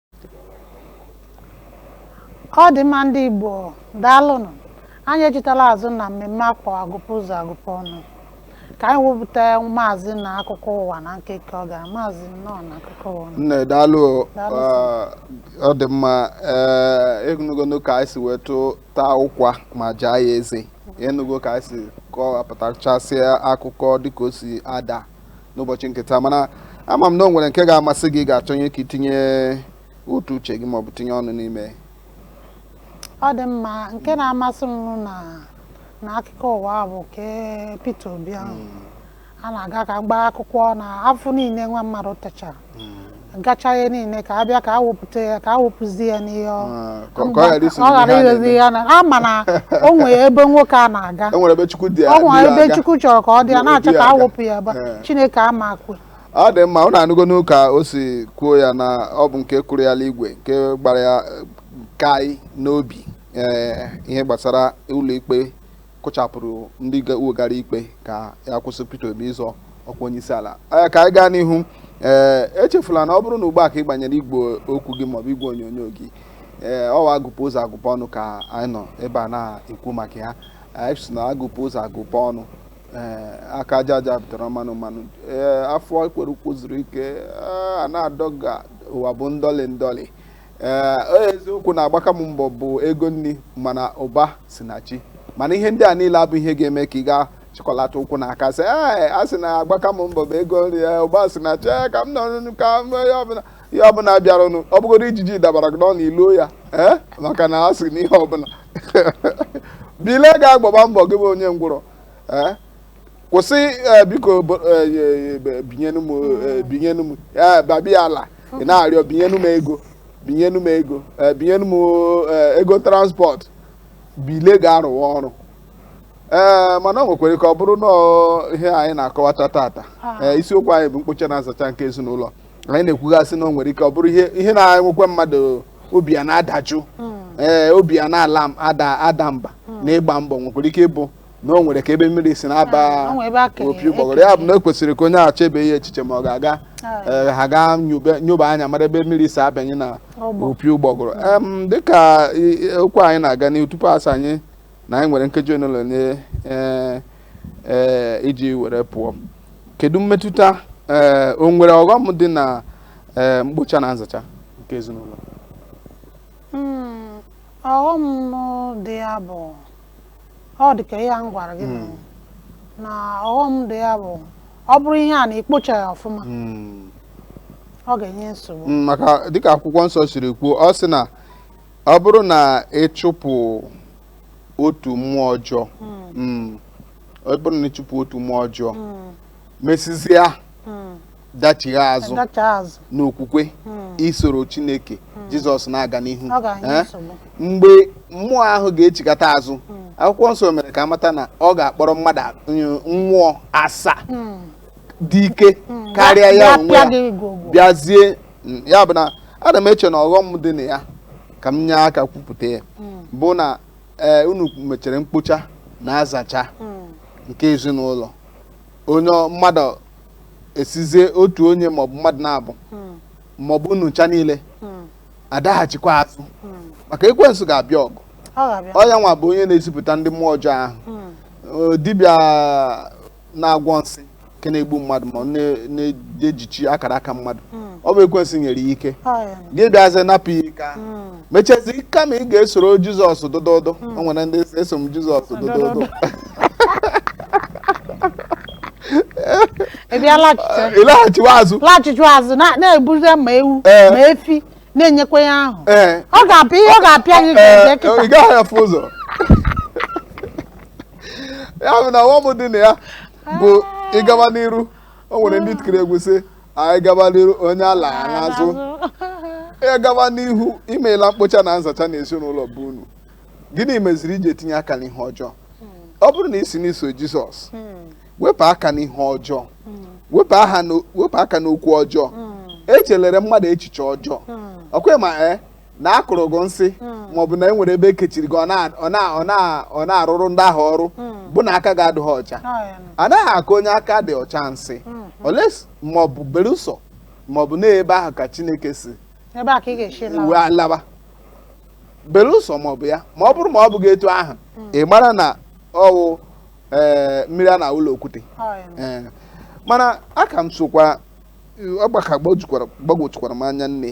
ọ dị mma ndị Igbo daalụnụ anyị echitala azụ na mmemme a kpọ agụpụ ụzọ agụpụ ọnụ ka anyị wepụta maazị na akụkọ ụwa na nkeke ọ gara maazị nnọọ na akụkọ ụwa nne daalụ ọ dị mma enugono ka anyị si wee tụ taa ụkwa ma jaa ya eze enugo ka anyị si kọwapụtachasịa akụkọ dịka o si ada n'ụbọchị nke taa mana ama m na o nwere nke ga-amasị gị ga-achọnye ka i tinye otu uche gị maọbụ tinye ọnụ n'ime ọ dị mma nke na-amasị m na na akụkọ ụwa a bụ nke Peter Obi ahụ a na-aga ka gbaa akwụkwọ na afụfụ niile nwa mmadụ tachara gacha ihe niile ka abịa ka awepụta ya ka awepụzi ya n'ihe ọ Ah, ka ọ- ka ọ ghara isi ọ ghara n'ihe a ighezi na-eme. ya na ama na o nwere ebe nwoke a na-aga e nwere ebe chukwu dị ọ nwere dị ebe aga. chukwu chọrọ ka ọ dị ya Obi na-achọ ka aga. awepụ ya ebe a. Eh. chineke ama kwe ọ dị mma ụnụ anụgonụ ka o si kwuo ya na ọ bụ nke kụrụ ya n'igwe nke gbara ya eh, kai n'obi ee ihe gbasara ụlọikpe kụchapụrụ ndị wegara ikpe ka ya kwụsị Peter Obi ịzọ ọkwa onye isi ala ee ka anyị gaa n'ihu ee echefula na ọ bụrụ na ugbu a ka ị gbanyere igwe okwu gị maọbụ igwe onyonyo gị ee ọ bụ agụpụ ụzọ agụpụ ọnụ ka anyị nọ ebe a na-ekwu maka ya anyị sị na agụpụ ụzọ agụpụ ọnụ ee aka aja aja butere mmanụ mmanụ ee afọ ekwere ụkwụ zuru ike ee, a na-adọga ụwa bụ ndọlị ndọlị ee eziokwu na agbaka m mbọ bụ ego nri mana ụba si na chi mana ihe ndị a niile abụ ihe ga-eme ka ị gaa chịkọlata ụkwụ na aka sị ee a sị na agbaka m mbọ bụ ego nri ya ụba si na chi ka m nọrọnụ ka m ihe ọbụla ihe ọbụla bịaranụ ọ bụgodu ijiji dabara gị n'ọnụ iloo ya ee maka na a sị na ihe ọbụla bilie gaa gbaba mbọ gị bụ onye ngwụrọ ee kwụsị eh, biko bo- eh, eh, eh, binyenu m eh, binyenu m ya babiala ị na-arịọ binyenu m ego binyenu m ego eh, binyenu m eh, ego transport bilie gaa rụwa ọrụ ee mana o nwekwara ike ọ bụrụ na ọ- ihe anyị na-akọwata tata ee, isiokwu anyị bụ mkpocha na nzacha nke ezinụlọ anyị na-ekwugasị na o nwere ike ọ bụrụ ihe ihe na-enwekwa mmadụ obi ya na-adajụ ee obi ya na-ala m- ada ada mba na ịgba mbọ nwekwara ike ịbụ na o nwere ka ebe mmiri si na-aba O nwere ebe aka- opi ụgbọgụrụ ya bụ na o kwesịrị ka onye ahụ chebe ya echiche ma ọ ga-aga ee, ha gaa nyobe- nyoba anya mara ebe mmiri si abanye na Ọgbọ. opi ụgbọgụrụ Em, dịka i- i- okwu anyị na-aga n'ihu tupu asị anyị na anyị nwere nkeji ole na ole ee, ee, iji were pụọ kedu mmetụta ee, o nwere ọghọm dị na ee, mkpocha na nzacha nke ezinụlọ Mm, ọghọm dị ya bụ ọ dị ka ihe a m gwara gị na- na ọghọm dị ya bụ ọ bụrụ ihe a na ikpochaghị ya ọfụma Mm. ọ ga-enye nsogbu Mm, maka dịka akwụkwọ nsọ siri kwuo ọ sị na ọ bụrụ na ịchụpụ otu mmụọ ọjọọ mm, ọ bụrụ na ịchụpụ otu mmụọ ọjọọ Mm, mesizia mm, dachigha azụ Ndacha azụ. n'okwukwe isoro chineke jizọs na-aga n'ihu Ọ ga-enye Eh? nsogbu. mgbe mmụọ ahụ ga-echighata azụ akwụkwọ nsọ mere ka amata na ọ ga-akpọrọ mmadụ a- nye- mmụọ asaa Mm. dị ike Mm. karịa Bịa- ya onwe bịa ya gị gwogwo. bịazie mm, ya bụ na ana m eche na ọghọm dị na ya ka m nye aka kwupụta ya Mm. bụ na ee unu mechere mkpocha na nzacha Mm. nke ezinụlọ onye ọ- mmadụ esizie otu onye maọbụ mmadụ naabọ maọbụ unu ncha niile adaghachikwa azụ maka ekwensu ga-abịa ọgụ ọ ga-abịa ọ ya nwa bụ onye na-ezipụta ndị mmụọ ọjọọ ahụ Ee, dibịa na-agwọ nsị nke na-egbu mmadụ ma ọ na- na-ejichi akara aka mmadụ ọ bụ ekwensu nyere ya ike Ọ ya. gị bịazie napụ ya ike ahụ mechezi kama ị ga-esoro jizọs dododo o nwere ndị sị, eso m jizọs dododo ị bịa laghachite ịlaghachiwa azụ laghachiwa azụ na- na-ebuzi ma ewu Ee. ma efi na-enyekwa ya ahụ ee ọ ga-apịa ihe ọ ga-apịa gị Ee, ga-eje ị kịta gaghị afụ ụzọ ya bụ na ọghọm dị na ya bụ ịgawa n'iru o nwere ndị tikiri egwu sị anyị gaba n'iru onye alana azụ ị gaba n'ihu i meela mkpocha na nzacha na ezinụlọ be unu gịnị meziri i ji etinye aka n'ihe ọjọọ ọ bụrụ na ị sị na i so jizọs wepụ aka n'ihe ọjọọ wepụ aha na- wepụ aka n'okwu ọjọọ echelere mmadụ echiche ọjọọ ọkwa ị ma ee na a kụrụ gị nsị hmm. maọbụ na e nwere ebe e kechiri gị ọ na-arụrụ ndị ahụ ọrụ hmm. bụ na aka gị adịghị ọcha a naghị akụ onye aka dị ọcha nsị hmm, unless maọbụ belụsọ maọbụ na ebe ahụ ka Chineke si uwe alaba belụsọ maọbụ ya ma ọ bụrụ ma ọ bụghị etu ahụ ị mara na ọ wụ eh, mmiri a na-awụ n'okwute eh, mana aka m sokwa ọ gbaka gbagwojukwara m anya nne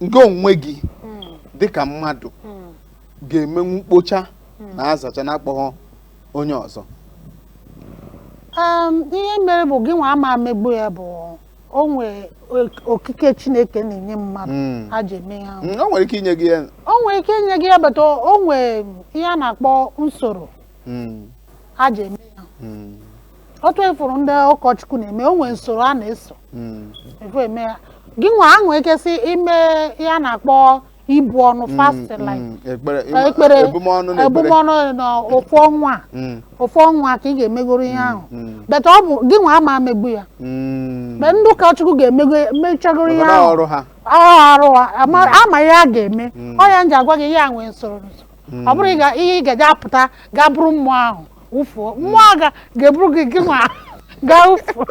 gị onwe gị dịka mmadụ ga-emenwu mkpocha na nzacha na akpọghọ onye ọzọ Em, ihe mere bụ gị nwa ama emegbu ya bụ o nwee ok- oke ike chineke na-enye mmadụ Mm. a ji eme ya Mm, o nwere ike inye gị ya o nwere ike inye gị ya but o nwee ihe a na-akpọ nsoro mm, a ji eme ya mm. otu ị fụrụ ndị ụkọchukwu na-eme o nwere nsoro a na-eso Mm. efu eme ya gị nwa ahụ ekwesị ime ihe a na-akpọ ibu ọnụ fast Mm, like mm, ekpere ekpere ebumọnụ na ekpere ebumọnụ na ofu ọnwa a, Mm, ofu ọnwa ka ị ga-emegoro ihe ahụ mm, but ọ bụ gị nwa ama megbu ya mm. mgbe ndị ụkọchukwu ga-emego mechagoro ihe Maka na ahụ ọrụ ha ọ arụ ha, ama ama ihe a ga-eme ọ ya m ji agwa gị ihe a nwee nsoro nsoro ọ bụrụ ịga- ihe ị ga-eje apụta gaa buru mmụọ ahụ wụfuo mmụọ ahụ ga-eburu gị gị nwa gaa wụfuo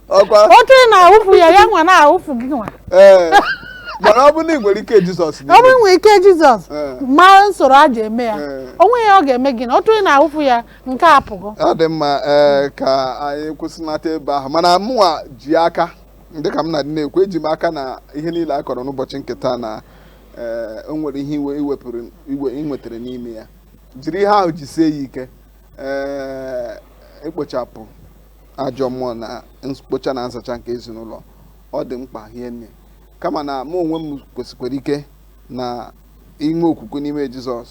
ọkwa otu ị na-awụfu ya ya nwa na-awụfu gị nwa ee mana ọ bụ na ị nwere ike jizọs ọ bụ nwee ike jizọs Ee. mara nsoro a ji eme ya Ee. o nweghị ihe ọ ga-eme gị na otu ị na-awụfu ya nke a pụgo ọ dị mma ee ka anyị kwụsịnata ebe ahụ mana mụnwa ji aka dịka m na-adị na-ekwu eji m aka na ihe niile a kọrọ n'ụbọchị nke taa na ee o nwere ihe i we i wepụrụ ihe ị nwetara n'ime ya jiri ihe ahụ jisie ya ike ee ikpochapụ ajọ mmụọ na mkpocha na nzacha nke ezinụlọ ọ dị mkpa hie nne kama na mụ onwe m kwesikwara ike na i nwee okwukwe n'ime jizọs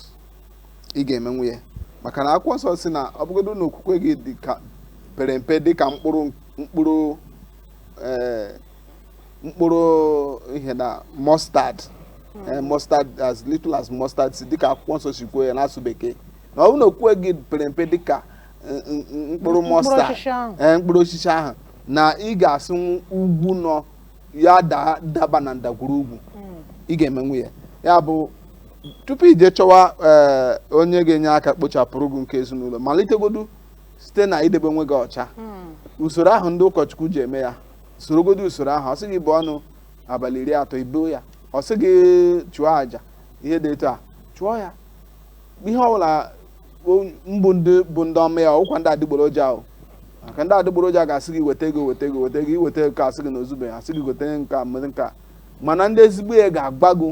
ị ga-emenwu ya maka na akwụkwọ nsọ sị na ọ bụgodo na okwukwe gị dị ka pere mpe dị ka mkpụrụ mkpụrụ ee mkpụrụ ihe na mustard eh, mustard as little as mustard seed dịka akwụkwọ nsọ si kwuo ya n'asụ bekee na ọ bụrụ na okwukwe gị pere mpe dịka n- n- n- mkpụrụ mustard osisi ahụ. eh, mkpụrụ osisi ahụ na ị ga-asị nwu- ugwu nọ ya daa daba na ndagwurugwu ị ga-emenwu ya ya bụ tupu i jee chọwa eh, onye ga-enye aka kpochapụrụ gị nke ezinụlọ malitegodu site na idebe onwe gị ọcha usoro ahụ ndị ụkọchukwu ji eme ya sorogodo usoro ahụ ọ sị gị buo ọnụ abalị iri atọ i buo ya ọ sị gị chụọ àjà ihe dị etu a chụọ ya ihe ọbụla mbụ ndị bụ ndị ọma ya ọ bụkwa ndị adịgboroja ahụ maka ndị adịgboroja ga-asị gị weta ego weta ego weta ego i weta ego a sị gị na o zube a sị gị gote nke a mezie nke a mana ndị ezigbo ya ga-agwa gị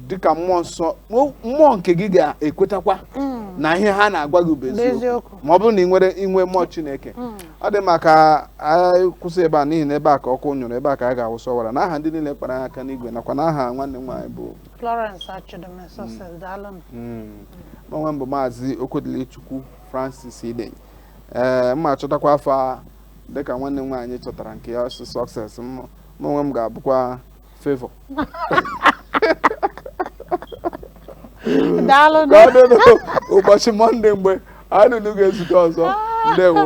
dịka mmụọ nsọ mụ- mmụọ nke gị ga-ekwetakwa na ihe ha na-agwa gị bụ eziokwu Eziokwu. ma ọ bụrụ na ị nwere inwe mmụọ chineke ọ dị mma ka anyị kwụsị ebe a n'ihi na ebe a ka ọkụ nyụrụ ebe a ka a ga-awụsa ọwara na aha ndị niile kpara anyị aka n'igwe nakwa na aha nwanne m nwaanyị bụ Florence Achidome Success daalụnụ mụ onwe m bụ maazị okwudilichukwu francis idenyi ee m ma-achọtakwa afa dịka nwanne m nwaanyị chọtara nke ya ọ sị Success mụ onwe m ga-abụkwa Favor. daalụ nụ. Ka ọ dị ụbọchị Mọnde mgbe anyị na unu ga-ezute ọzọ. Ndewo.